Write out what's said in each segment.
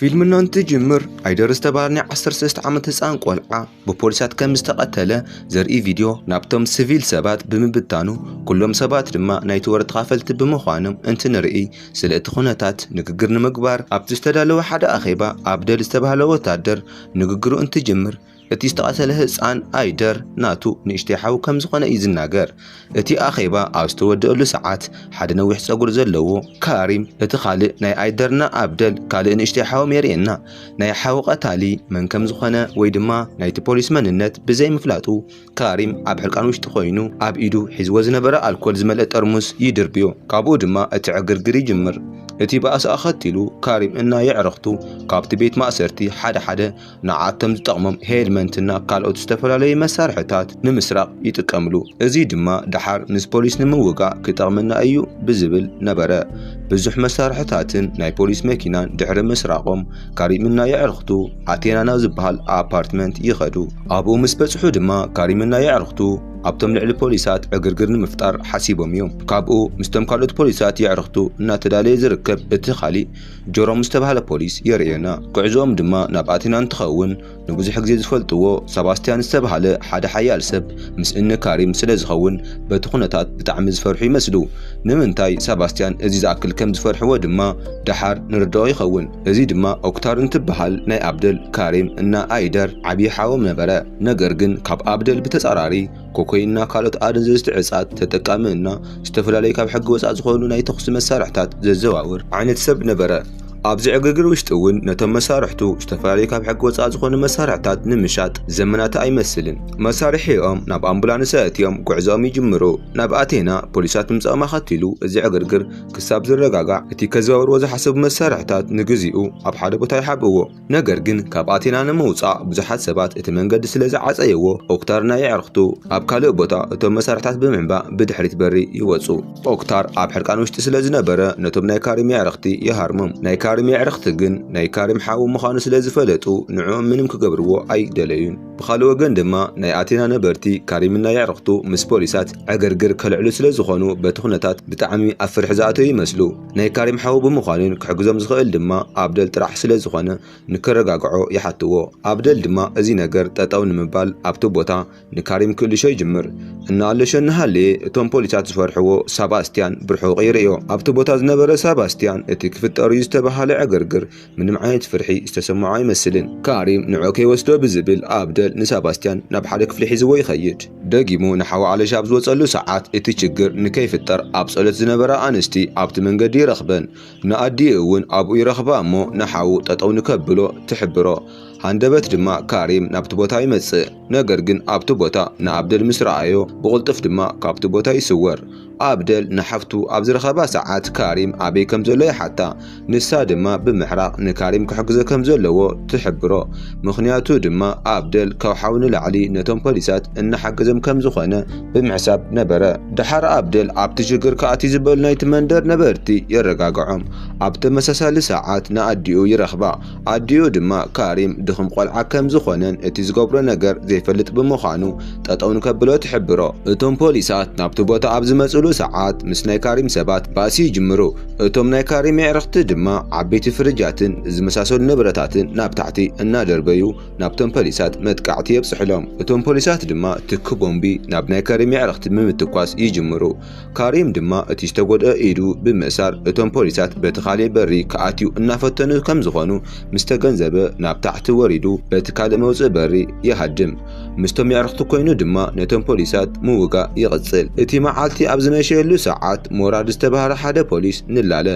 ፊልምና እንትጅምር ኣይደር ዝተባህለ ናይ 13 ዓመት ህፃን ቆልዓ ብፖሊሳት ከም ዝተቐተለ ዘርኢ ቪድዮ ናብቶም ስቪል ሰባት ብምብታኑ ኩሎም ሰባት ድማ ናይቲ ወረ ተኻፈልቲ ብምዃኖም እንትንርኢ ስለ እቲ ኩነታት ንግግር ንምግባር ኣብቲ ዝተዳለወ ሓደ ኣኼባ ኣብደል ዝተባህለ ወታደር ንግግሩ እንትጅምር እቲ ዝተቐተለ ህጻን ኣይደር ናቱ ንእሽተይ ሓው ከም ዝኾነ እዩ ዝናገር። እቲ ኣኼባ ኣብ ዝተወደኣሉ ሰዓት፣ ሓደ ነዊሕ ጸጉሪ ዘለዎ ካሪም እቲ ካልእ ናይ ኣይደርና ኣብደል ካልእ ንእሽተይ ሓዎም የርእየና። ናይ ሓው ቀታሊ መን ከም ዝኾነ ወይ ድማ ናይቲ ፖሊስ መንነት ብዘይምፍላጡ፣ ካሪም ኣብ ሕርቃን ውሽጢ ኮይኑ ኣብ ኢዱ ሒዝዎ ዝነበረ ኣልኮል ዝመልአ ጠርሙስ ይድርብዮ። ካብኡ ድማ እቲ ዕግርግር ይጅምር። እቲ ባእሲ ኣኸቲሉ ካሪም እና የዕርኽቱ ካብቲ ቤት ማእሰርቲ ሓደ ሓደ ንዓቶም ዝጠቕሞም ሄልመንትና ካልኦት ዝተፈላለዩ መሳርሕታት ንምስራቕ ይጥቀምሉ። እዚ ድማ ደሓር ምስ ፖሊስ ንምውጋእ ክጠቕመና እዩ ብዝብል ነበረ። ብዙሕ መሳርሕታትን ናይ ፖሊስ መኪናን ድሕሪ ምስራቖም ካሪምና የዕርኽቱ ኣቴና ናብ ዝበሃል ኣፓርትመንት ይኸዱ። ኣብኡ ምስ በጽሑ ድማ ካሪምና የዕርኽቱ ኣብቶም ልዕሊ ፖሊሳት ዕግርግር ንምፍጣር ሓሲቦም እዮም። ካብኡ ምስቶም ካልኦት ፖሊሳት የዕርኽቱ እናተዳለየ ዝርከብ እቲ ካሊእ ጀሮም ዝተባህለ ፖሊስ የርእየና። ጉዕዞኦም ድማ ናብ ኣቴና እንትኸውን፣ ንብዙሕ ግዜ ዝፈልጥዎ ሰባስትያን ዝተባህለ ሓደ ሓያል ሰብ ምስ እኒ ካሪም ስለ ዝኸውን በቲ ኩነታት ብጣዕሚ ዝፈርሑ ይመስሉ። ንምንታይ ሰባስትያን እዚ ዝኣክል ከም ዝፈርሕዎ ድማ ደሓር ንርደኦ ይኸውን። እዚ ድማ ኦክታር እንትበሃል ናይ ኣብደል፣ ካሪም እና ኣይደር ዓብዪ ሓዎም ነበረ። ነገር ግን ካብ ኣብደል ብተፃራሪ ኮኮይንና ካልኦት ኣደንዘዝቲ ዕፃት ተጠቃሚ እና ዝተፈላለዩ ካብ ሕጊ ወፃእ ዝኾኑ ናይ ተኹሲ መሳርሕታት ዘዘዋውር ዓይነት ሰብ ነበረ። ኣብዚ ዕግርግር ውሽጢ እውን ነቶም መሳርሕቱ ዝተፈላለዩ ካብ ሕጊ ወፃእ ዝኾኑ መሳርሕታት ንምሻጥ ዘመናቲ ኣይመስልን። መሳርሒኦም ናብ ኣምቡላንስ ኣእትዮም ጉዕዞኦም ይጅምሩ። ናብ ኣቴና ፖሊሳት ምምፃኦም ኣኸቲሉ እዚ ዕግርግር ክሳብ ዝረጋጋዕ እቲ ከዘዋውርዎ ዝሓሰቡ መሳርሕታት ንግዚኡ ኣብ ሓደ ቦታ ይሓብእዎ። ነገር ግን ካብ ኣቴና ንምውጻእ ብዙሓት ሰባት እቲ መንገዲ ስለ ዝዓጸየዎ ኦክታር ናይ ኣዕርኽቱ ኣብ ካልእ ቦታ እቶም መሳርሕታት ብምዕንባእ ብድሕሪት በሪ ይወጹ። ኦክታር ኣብ ሕርቃን ውሽጢ ስለ ዝነበረ ነቶም ናይ ካሪም የዕርኽቲ ይሃርሞም። ናይ ካሪም የዕርኽቲ ግን ናይ ካሪም ሓው ምዃኑ ስለ ዝፈለጡ ንዕኦም ምንም ክገብርዎ ኣይደለዩን። ብኻልእ ወገን ድማ ናይ ኣቴና ነበርቲ ካሪምን ናይ ኣዕርኽቱ ምስ ፖሊሳት ዕግርግር ከልዕሉ ስለ ዝኾኑ በቲ ኩነታት ብጣዕሚ ኣብ ፍርሒ ዝኣተዉ ይመስሉ። ናይ ካሪም ሓው ብምዃኑን ክሕግዞም ዝኽእል ድማ ኣብደል ጥራሕ ስለ ዝኾነ ንከረጋግዖ ይሓትዎ። ኣብደል ድማ እዚ ነገር ጠጠው ንምባል ኣብቲ ቦታ ንካሪም ክእልሾ ይጅምር። እናኣለሾ እናሃለየ እቶም ፖሊሳት ዝፈርሕዎ ሳባስቲያን ብርሑቕ ይርእዮ። ኣብቲ ቦታ ዝነበረ ሳባስቲያን እቲ ክፍጠር'ዩ ዝተበሃለ ዕግርግር ምንም ዓይነት ፍርሒ ዝተሰምዖ ኣይመስልን። ካሪም ንዑ ከይወስዶ ብዝብል ኣብደል ንሰባስትያን ናብ ሓደ ክፍሊ ሒዝዎ ይኸይድ። ደጊሙ ንሓው ኣለሽ ኣብ ዝወጸሉ ሰዓት እቲ ችግር ንከይፍጠር ኣብ ጸሎት ዝነበራ ኣንስቲ ኣብቲ መንገዲ ይረኽበን። ንኣዲኡ እውን ኣብኡ ይረኽባ እሞ ንሓው ጠጠው ንከብሎ ትሕብሮ። ሃንደበት ድማ ካሪም ናብቲ ቦታ ይመጽእ። ነገር ግን ኣብቲ ቦታ ንኣብደል ምስ ረኣዮ ብቕልጡፍ ድማ ካብቲ ቦታ ይስወር። ኣብደል ንሓፍቱ ኣብ ዝረኸባ ሰዓት ካሪም ኣበይ ከም ዘሎ ይሓታ፣ ንሳ ድማ ብምሕራቕ ንካሪም ክሕግዞ ከም ዘለዎ ትሕብሮ። ምኽንያቱ ድማ ኣብደል ካብ ሓው ንላዕሊ ነቶም ፖሊሳት እናሓገዞም ከም ዝኾነ ብምሕሳብ ነበረ። ደሓር ኣብደል ኣብቲ ሽግር ክኣትዩ ዝበሉ ናይቲ መንደር ነበርቲ የረጋግዖም። ኣብ ተመሳሳሊ ሰዓት ንኣዲኡ ይረኽባ። ኣዲኡ ድማ ካሪም ድኹም ቆልዓ ከም ዝኾነን እቲ ዝገብሮ ነገር ዘይፈልጥ ብምዃኑ ጠጠው ንከብሎ ትሕብሮ። እቶም ፖሊሳት ናብቲ ቦታ ኣብ ዝመጽሉ ሰዓት ምስ ናይ ካሪም ሰባት ባእሲ ይጅምሩ። እቶም ናይ ካሪም የዕርኽቲ ድማ ዓበይቲ ፍርጃትን ዝመሳሰሉ ንብረታትን ናብ ታሕቲ እናደርበዩ ናብቶም ፖሊሳት መጥቃዕቲ የብጽሑሎም። እቶም ፖሊሳት ድማ ትኪ ቦምቢ ናብ ናይ ካሪም የዕርኽቲ ብምትኳስ ይጅምሩ። ካሪም ድማ እቲ ዝተጎድኣ ኢዱ ብምእሳር እቶም ፖሊሳት በቲ ካሊእ በሪ ክኣትው እናፈተኑ ከምዝኾኑ ምስተገንዘበ ናብ ታሕቲ ወሪዱ በቲ ካልእ መውፅኢ በሪ ይሃድም። ምስቶም የዕርኽቱ ኮይኑ ድማ ነቶም ፖሊሳት ምውጋእ ይቕፅል። እቲ መዓልቲ ኣብ ዝመሸየሉ ሰዓት ሞራድ ዝተብሃለ ሓደ ፖሊስ ንላለ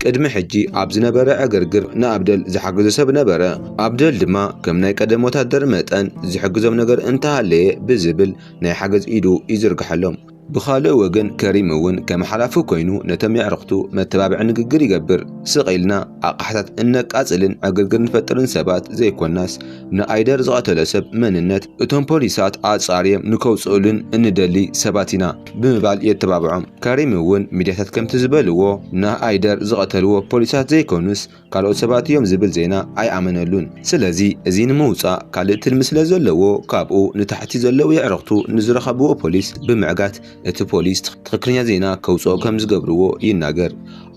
ቅድሚ ሕጂ ኣብ ዝነበረ ዕግርግር ንኣብደል ዝሓገዞ ሰብ ነበረ። ኣብደል ድማ ከም ናይ ቀደም ወታደር መጠን ዝሕግዞም ነገር እንተሃለየ ብዝብል ናይ ሓገዝ ኢዱ ይዝርግሐሎም። ብኻልእ ወገን ከሪም እውን ከም ሓላፊ ኮይኑ ነቶም የዕርኽቱ መተባብዒ ንግግር ይገብር። ስቕ ኢልና ኣቕሓታት እነቃጽልን ዕግርግር ንፈጥርን ሰባት ዘይኮናስ ንኣይደር ዝቐተሎ ሰብ መንነት እቶም ፖሊሳት ኣጻርዬም ንከውጽኡሉን እንደሊ ሰባት ኢና ብምባል የተባብዖም። ከሪም እውን ሚድያታት ከምቲ ዝበልዎ ንኣይደር ዝቐተልዎ ፖሊሳት ዘይኮኑስ ካልኦት ሰባት እዮም ዝብል ዜና ኣይኣመነሉን። ስለዚ እዚ ንምውጻእ ካልእ ትልሚ ስለ ዘለዎ ካብኡ ንታሕቲ ዘለዉ የዕርኽቱ ንዝረኸብዎ ፖሊስ ብምዕጋት እቲ ፖሊስ ትኽክለኛ ዜና ከውጽኦ ከም ዝገብርዎ ይናገር።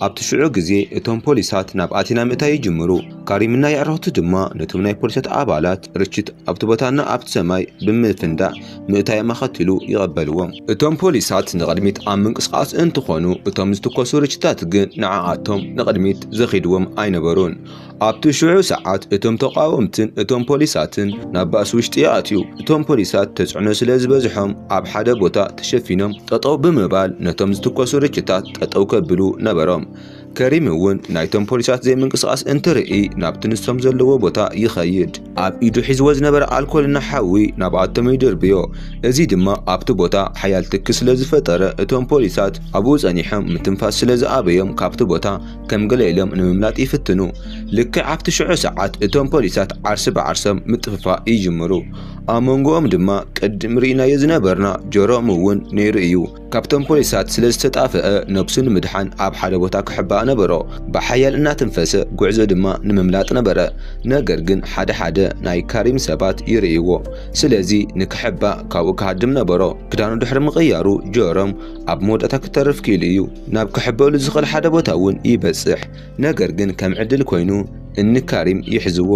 ኣብቲ ሽዑ ግዜ እቶም ፖሊሳት ናብ ኣቲና ምእታይ ይጅምሩ። ካሪምና የዕርኽቱ ድማ ነቶም ናይ ፖሊሳት ኣባላት ርችት ኣብቲ ቦታና ኣብቲ ሰማይ ብምፍንዳእ ምእታዮም ኣኸቲሉ ይቐበልዎ። እቶም ፖሊሳት ንቕድሚት ኣብ ምንቅስቓስ እንትኾኑ እቶም ዝትኮሱ ርችታት ግን ንዓኣቶም ንቕድሚት ዘኺድዎም ኣይነበሩን። ኣብቲ ሽዑ ሰዓት እቶም ተቓወምትን እቶም ፖሊሳትን ናብ ባእሲ ውሽጢ ይኣትዩ። እቶም ፖሊሳት ተፅዕኖ ስለ ዝበዝሖም ኣብ ሓደ ቦታ ተሸፊኖም ጠጠው ብምባል ነቶም ዝትኮሱ ርችታት ጠጠው ከብሉ ነበሮም። ከሪም እውን ናይቶም ፖሊሳት ዘይምንቅስቓስ እንትርኢ ናብቲ ንሶም ዘለዎ ቦታ ይኸይድ። ኣብ ኢዱ ሒዝዎ ዝነበረ ኣልኮል እናሓዊ ናብኣቶም ይድርብዮ። እዚ ድማ ኣብቲ ቦታ ሓያል ትኪ ስለ ዝፈጠረ እቶም ፖሊሳት ኣብኡ ጸኒሖም ምትንፋስ ስለ ዝኣበዮም ካብቲ ቦታ ከም ገለ ኢሎም ንምምላጥ ይፍትኑ። ልክዕ ኣብቲ ሽዑ ሰዓት እቶም ፖሊሳት ዓርሲ ብዓርሶም ምጥፍፋእ ይጅምሩ። ኣብ መንጎኦም ድማ ቅድም ርኢናዮ ዝነበርና ጀሮም እውን ነይሩ እዩ። ካብቶም ፖሊሳት ስለ ዝተጣፍአ ነብሱ ንምድሓን ኣብ ሓደ ቦታ ክሕባእ ነበሮ። ብሓያል እናተንፈሰ ጉዕዞ ድማ ንምምላጥ ነበረ። ነገር ግን ሓደ ሓደ ናይ ካሪም ሰባት ይርእይዎ። ስለዚ ንክሕባእ ካብኡ ክሃድም ነበሮ። ክዳኑ ድሕሪ ምቕያሩ ጀሮም ኣብ መወዳእታ ክተርፍ ክኢሉ እዩ። ናብ ክሕበእሉ ዝኽእል ሓደ ቦታ እውን ይበጽሕ። ነገር ግን ከም ዕድል ኮይኑ እኒ ካሪም ይሕዝዎ።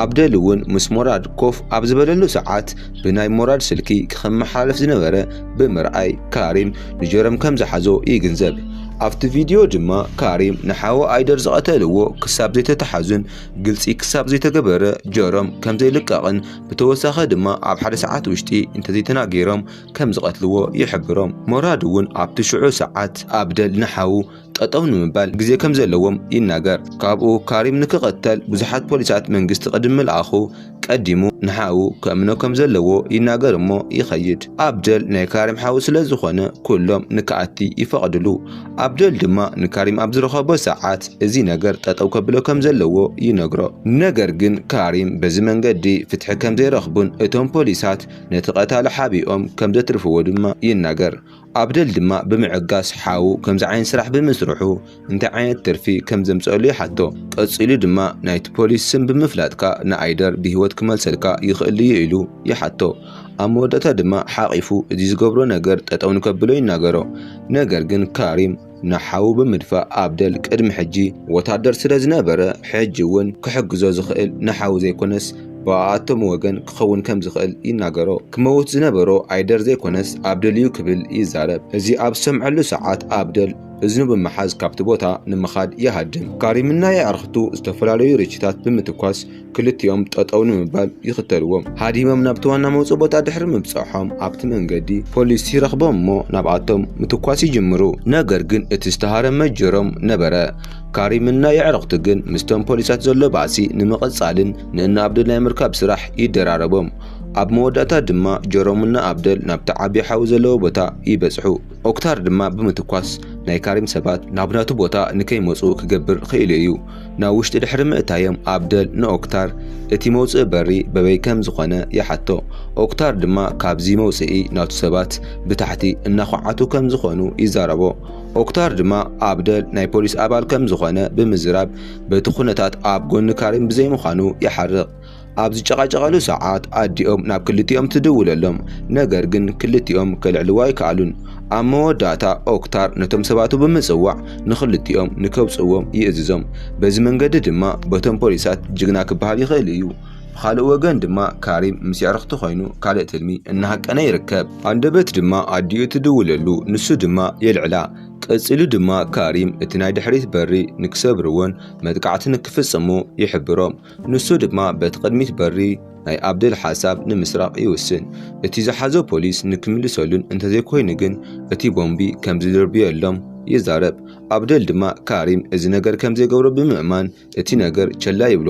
ኣብደል እውን ምስ ሞራድ ኮፍ ኣብ ዝበለሉ ሰዓት ብናይ ሞራድ ስልኪ ክኸመሓላለፍ ዝነበረ ብምርኣይ ካሪም ንጀሮም ከም ዝሓዞ ይግንዘብ። ኣብቲ ቪድዮ ድማ ካሪም ንሓው ኣይደር ዝቐተልዎ ክሳብ ዘይተተሓዙን ግልፂ ክሳብ ዘይተገበረ ጀሮም ከም ዘይልቀቕን ብተወሳኺ ድማ ኣብ ሓደ ሰዓት ውሽጢ እንተዘይተናጊሮም ከም ዝቐትልዎ ይሕብሮም። ሞራድ እውን ኣብቲ ሽዑ ሰዓት ኣብደል ንሓው ጠጠው ንምባል ግዜ ከም ዘለዎም ይናገር። ካብኡ ካሪም ንክቐተል ብዙሓት ፖሊሳት መንግስቲ ቅድሚ ምልኣኹ ቀዲሙ ንሓዉ ከእምኖ ከም ዘለዎ ይናገር እሞ ይኸይድ። ኣብደል ናይ ካሪም ሓዉ ስለ ዝኾነ ኩሎም ንክኣቲ ይፈቕድሉ። ኣብደል ድማ ንካሪም ኣብ ዝረኸቦ ሰዓት እዚ ነገር ጠጠው ከብሎ ከም ዘለዎ ይነግሮ። ነገር ግን ካሪም በዚ መንገዲ ፍትሒ ከም ዘይረኽቡን እቶም ፖሊሳት ነቲ ቀታሊ ሓቢኦም ከም ዘትርፍዎ ድማ ይናገር። ኣብደል ድማ ብምዕጋስ ሓው ከምዚ ዓይነት ስራሕ ብምስርሑ እንታይ ዓይነት ትርፊ ከም ዘምፀሉ ይሓቶ። ቀፂሉ ድማ ናይቲ ፖሊስ ስም ብምፍላጥካ ንኣይደር ብህይወት ክመልሰልካ ይኽእል ድዩ ኢሉ ይሓቶ። ኣብ መወዳእታ ድማ ሓቒፉ እዚ ዝገብሮ ነገር ጠጠው ንከብሎ ይናገሮ። ነገር ግን ካሪም ንሓዉ ብምድፋእ ኣብደል ቅድሚ ሕጂ ወታደር ስለ ዝነበረ ሕጂ እውን ክሕግዞ ዝኽእል ንሓዉ ዘይኮነስ ብኣኣቶም ወገን ክኸውን ከም ዝኽእል ይናገሮ። ክመውት ዝነበሮ ኣይደር ዘይኮነስ ኣብደል እዩ ክብል ይዛረብ። እዚ ኣብ ዝሰምዐሉ ሰዓት ኣብደል እዝኑ ብምሓዝ ካብቲ ቦታ ንምኻድ ይሃድም። ካሪምና የዕርኽቱ ዝተፈላለዩ ርችታት ብምትኳስ ክልቲኦም ጠጠው ንምባል ይኽተልዎም። ሃዲሞም ናብቲ ዋና መውጽኢ ቦታ ድሕሪ ምብጻሖም ኣብቲ መንገዲ ፖሊስ ይረኽቦም እሞ ናብኣቶም ምትኳስ ይጅምሩ። ነገር ግን እቲ ዝተሃረመ ጀሮም ነበረ። ካሪምን ናይ የዕርኽቱ ግን ምስቶም ፖሊሳት ዘሎ ባእሲ ንምቕጻልን ንእነ ኣብደል ናይ ምርካብ ስራሕ ይደራረቦም። ኣብ መወዳእታ ድማ ጀሮምን እነ ኣብደል ናብቲ ዓቢ ሓዊ ዘለዎ ቦታ ይበጽሑ። ኦክታር ድማ ብምትኳስ ናይ ካሪም ሰባት ናብ ናቱ ቦታ ንከይመጹ ክገብር ኽኢሉ እዩ። ናብ ውሽጢ ድሕሪ ምእታዮም ኣብደል ንኦክታር እቲ መውጽኢ በሪ በበይ ከም ዝኾነ ይሓቶ። ኦክታር ድማ ካብዚ መውጽኢ ናቱ ሰባት ብታሕቲ እናዃዓቱ ከም ዝኾኑ ይዛረቦ። ኦክታር ድማ ኣብደል ናይ ፖሊስ ኣባል ከም ዝኾነ ብምዝራብ በቲ ኩነታት ኣብ ጎኒ ካሪም ብዘይምዃኑ ይሓርቕ። ኣብ ዝጨቓጨቐሉ ሰዓት ኣዲኦም ናብ ክልቲኦም ትድውለሎም፣ ነገር ግን ክልቲኦም ከልዕልዎ ኣይከኣሉን። ኣብ መወዳእታ ኦክታር ነቶም ሰባቱ ብምጽዋዕ ንኽልቲኦም ንከውጽእዎም ይእዝዞም። በዚ መንገዲ ድማ በቶም ፖሊሳት ጅግና ክበሃል ይኽእል እዩ። ብኻልእ ወገን ድማ ካሪም ምስ የዕርኽቱ ኮይኑ ካልእ ትልሚ እናሃቀነ ይርከብ። ሃንደበት ድማ ኣዲኡ ትድውለሉ፣ ንሱ ድማ የልዕላ። ቀጺሉ ድማ ካሪም እቲ ናይ ድሕሪት በሪ ንክሰብርዎን መጥቃዕቲ ንክፍጽሙ ይሕብሮም። ንሱ ድማ በቲ ቅድሚት በሪ ናይ ኣብደል ሓሳብ ንምስራቕ ይውስን። እቲ ዝሓዞ ፖሊስ ንክምልሰሉን እንተዘይኮይኑ ግን እቲ ቦምቢ ከምዝድርብየሎም ይዛረብ። ኣብደል ድማ ካሪም እዚ ነገር ከምዘይገብሮ ብምእማን እቲ ነገር ቸላ ይብሎ።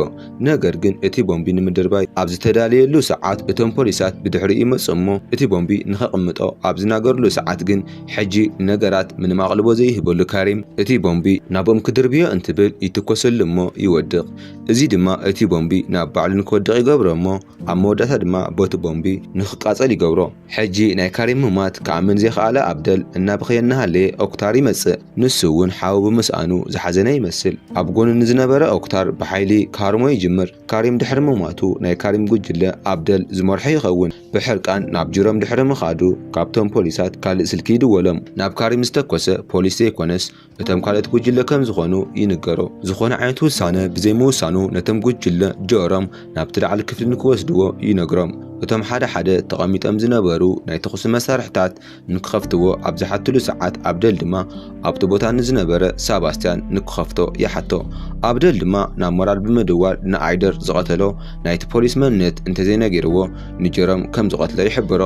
ነገር ግን እቲ ቦምቢ ንምድርባይ ኣብ ዝተዳለየሉ ሰዓት እቶም ፖሊሳት ብድሕሪኡ ይመጹ እሞ እቲ ቦምቢ ንከቕምጦ ኣብ ዝናገርሉ ሰዓት ግን ሕጂ ንነገራት ምንም ኣቕልቦ ዘይህበሉ ካሪም እቲ ቦምቢ ናብኦም ክድርብዮ እንትብል ይትኮሰሉ እሞ ይወድቕ። እዚ ድማ እቲ ቦምቢ ናብ ባዕሉ ንክወድቕ ይገብሮ እሞ ኣብ መወዳእታ ድማ ቦቲ ቦምቢ ንክቃጸል ይገብሮ። ሕጂ ናይ ካሪም ምሟት ክኣምን ዘይኸኣለ ኣብደል እናበኸየ እናሃለየ ኦክታር ይመጽእ። ንሱ እውን ሓው ብምስኣኑ ዝሓዘነ ይመስል። ኣብ ጎኑ ንዝነበረ ኦክታር ብሓይሊ ክሃርሞ ይጅምር። ካሪም ድሕሪ ምሟቱ ናይ ካሪም ጉጅለ ኣብደል ዝመርሖ ይኸውን። ብሕርቃን ናብ ጅሮም ድሕሪ ምኻዱ ካብቶም ፖሊሳት ካልእ ስልኪ ይድወሎም። ናብ ካሪም ዝተኮሰ ፖሊስ ዘይኮነስ እቶም ካልኦት ጉጅለ ከም ዝኾኑ ይንገሮ። ዝኾነ ዓይነት ውሳነ ብዘይምውሳኑ ነቶም ጉጅለ ጀሮም ናብቲ ላዕሊ ክፍሊ ንክወስድዎ ይነግሮም። እቶም ሓደ ሓደ ተቐሚጦም ዝነበሩ ናይ ተኹሲ መሳርሕታት ንክኸፍትዎ ኣብ ዝሓትሉ ሰዓት ኣብደል ድማ ኣብቲ ቦታ ንዝነበረ ሳባስትያን ንክኸፍቶ ይሓቶ። ኣብደል ድማ ናብ ሞራል ብምድዋል ንኣይደር ዝቐተሎ ናይቲ ፖሊስ መንነት እንተዘይነጊርዎ ንጀሮም ከም ዝቐትሎ ይሕብሮ።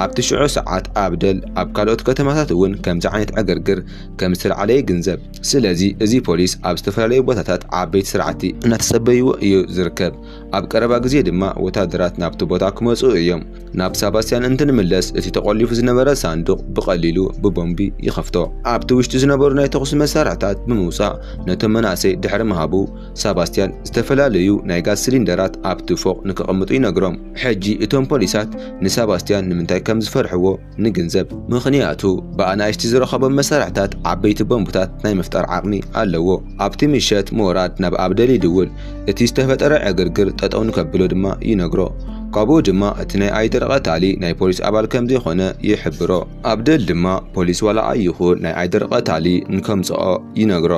ኣብቲ ሽዑ ሰዓት ኣብደል ኣብ ካልኦት ከተማታት እውን ከምዚ ዓይነት ዕግርግር ከም ዝተልዓለ ይግንዘብ። ስለዚ እዚ ፖሊስ ኣብ ዝተፈላለዩ ቦታታት ዓበይቲ ስራሕቲ እናተጸበይዎ እዩ ዝርከብ። ኣብ ቀረባ ግዜ ድማ ወታደራት ናብቲ ቦታ ክመጽኡ እዮም። ናብ ሳባስቲያን እንትንምለስ እቲ ተቆሊፉ ዝነበረ ሳንዱቕ ብቐሊሉ ብቦምቢ ይኸፍቶ። ኣብቲ ውሽጢ ዝነበሩ ናይ ተኹሲ መሳርሕታት ብምውጻእ ነቶም መናእሰይ ድሕሪ ምሃቡ፣ ሳባስቲያን ዝተፈላለዩ ናይ ጋዝ ሲሊንደራት ኣብቲ ፎቕ ንከቐምጡ ይነግሮም። ሕጂ እቶም ፖሊሳት ንሳባስቲያን ንምንታይ ከም ዝፈርሕዎ፣ ንግንዘብ። ምኽንያቱ ብኣናእሽቲ ዝረኸቦም መሳርሕታት ዓበይቲ ቦምብታት ናይ ምፍጣር ዓቕሚ ኣለዎ። ኣብቲ ምሸት ሞራድ ናብ ኣብደል ይድውል፣ እቲ ዝተፈጠረ ዕግርግር ጠጠው ንከብሎ ድማ ይነግሮ። ካብኡ ድማ እቲ ናይ ኣይደር ቐታሊ ናይ ፖሊስ ኣባል ከምዘይኾነ ይሕብሮ። ኣብደል ድማ ፖሊስ ዋላ ኣይኹን ናይ ኣይደር ቐታሊ ንከምጽኦ ይነግሮ።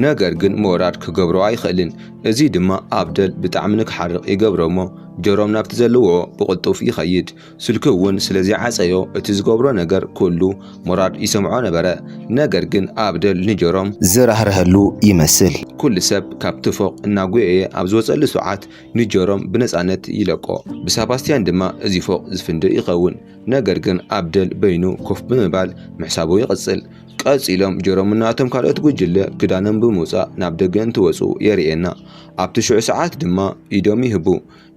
ነገር ግን ሞራድ ክገብሮ ኣይኽእልን። እዚ ድማ ኣብደል ብጣዕሚ ንክሓርቕ ይገብሮ'ሞ ጆሮም ናብቲ ዘለውኦ ብቕልጡፍ ይኸይድ። ስልኩ እውን ስለ ዘይዓጸዮ እቲ ዝገብሮ ነገር ኩሉ ሞራድ ይሰምዖ ነበረ። ነገር ግን ኣብደል ንጀሮም። ዝራህርሀሉ ይመስል። ኩሉ ሰብ ካብቲ ፎቕ እናጎየየ ኣብ ዝወጸሉ ሰዓት ንጀሮም ብነጻነት ይለቆ። ብሳባስትያን ድማ እዚ ፎቕ ዝፍንድእ ይኸውን። ነገር ግን ኣብደል በይኑ ኮፍ ብምባል ምሕሳቡ ይቕጽል። ቀጺሎም ጀሮምና እቶም ካልኦት ጉጅለ ክዳኖም ብምውጻእ ናብ ደገ እንትወጹ የርእየና። ኣብቲ ሽዑ ሰዓት ድማ ኢዶም ይህቡ።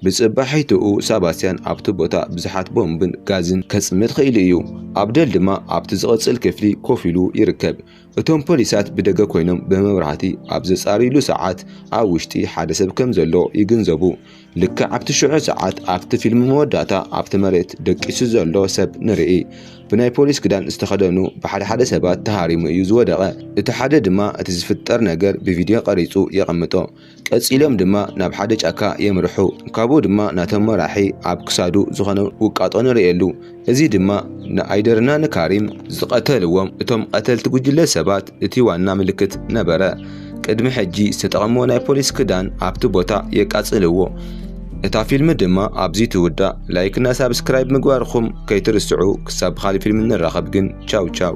ብጽባሒትኡ ሳባስቲያን ኣብቲ ቦታ ብዙሓት ቦምብን ጋዝን ከጽምድ ኽኢሉ እዩ፣ ኣብደል ድማ ኣብቲ ዝቕጽል ክፍሊ ኮፍ ኢሉ ይርከብ። እቶም ፖሊሳት ብደገ ኰይኖም ብመብራህቲ ኣብ ዘጻርዩሉ ሰዓት ኣብ ውሽጢ ሓደ ሰብ ከም ዘሎ ይግንዘቡ። ልክዕ ኣብቲ ሽዑ ሰዓት ኣብቲ ፊልም መወዳእታ ኣብቲ መሬት ደቂሱ ዘሎ ሰብ ንርኢ። ብናይ ፖሊስ ክዳን ዝተኸደኑ ብሓደ ሓደ ሰባት ተሃሪሙ እዩ ዝወደቐ፣ እቲ ሓደ ድማ እቲ ዝፍጠር ነገር ብቪድዮ ቀሪጹ የቐምጦ። ቀጺሎም ድማ ናብ ሓደ ጫካ የምርሑ። ካብኡ ድማ ናቶም መራሒ ኣብ ክሳዱ ዝኾነ ውቃጦ ንርእየሉ። እዚ ድማ ንኣይደርና ንካሪም ዝቐተልዎም እቶም ቐተልቲ ጉጅለ ሰባት እቲ ዋና ምልክት ነበረ። ቅድሚ ሕጂ ዝተጠቐምዎ ናይ ፖሊስ ክዳን ኣብቲ ቦታ የቃጽልዎ። እታ ፊልም ድማ ኣብዚ ትውዳእ። ላይክና ሳብስክራይብ ምግባርኹም ከይትርስዑ። ክሳብ ብኻልእ ፊልም ንራኸብ ግን ቻው ቻው።